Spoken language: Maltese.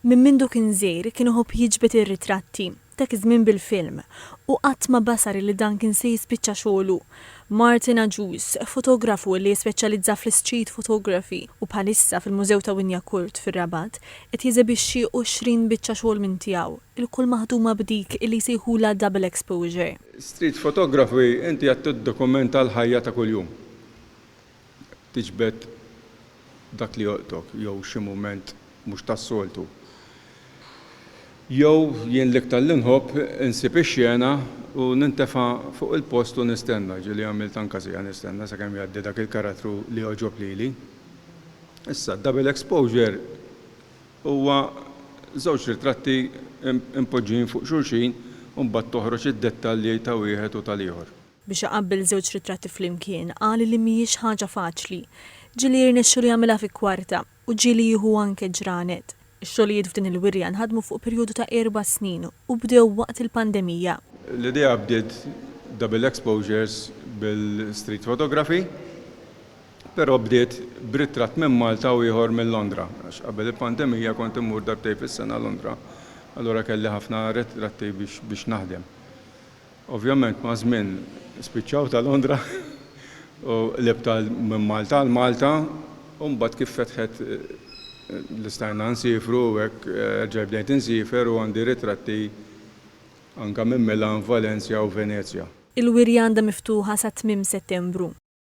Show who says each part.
Speaker 1: Minn mindu kien żgħir kien iħobb jiġbed ir-ritratti, dak iż-żmien bil-film, u qatt ma basar li dan kien se jispiċċa xogħlu. Martin Agius, fotografu li jispeċjalizza fl-Street Photography u bħalissa fil-Mużew ta' Wignacourt fir-Rabat qed jeżebixxi 20 biċċa xogħol minn tiegħu, ilkoll maħduma b'dik li jsejħulha double exposure. Street Photography
Speaker 2: inti qed tiddokumenta l-ħajja ta' kuljum. tiġbed dak li jolqtok jew xi mument mhux tas-soltu. Jew jien l-iktar li nħobb insib ix-xena u nintefa' fuq il-post u nistenna, ġieli għamilt anke siegħa nistenna sakemm jgħaddi dak il-karattru li jogħġob lili. Issa, Double Exposure huwa żewġ ritratti mpoġġijin fuq xulxin u mbagħad toħroġ id-dettalji ta' wieħed u tal-ieħor. Biex iqabbel żewġ
Speaker 1: ritratti flimkien, qal li mhijiex ħaġa faċli. Ġieli jirnexxilu jagħmilha fi kwarta, u ġieli jieħu anke ġranet. Ix-xogħlijiet f'din il-wirja nħadmu fuq perjodu ta' erba' snin u bdew waqt il-pandemija. L-idea bdiet
Speaker 2: double exposures bil-street photography, però bdiet b'ritratt minn Malta u ieħor minn Londra, għax qabel il-pandemija kont immur darbtejn fis-sena Londra, allura kelli ħafna ritratti biex naħdem. Ovvjament maż-żmien spiċċaw ta' Londra u l-ibta minn Malta għal Malta u mbagħad kif fetħet li stajna nsifru u hekk erġajt bdejt insiefer u għandi ritratti
Speaker 1: anke
Speaker 2: minn Milan, Valencia u
Speaker 1: Venezia. Il-wirja
Speaker 2: għandha
Speaker 1: miftuħa
Speaker 2: sa tmiem
Speaker 1: Settembru.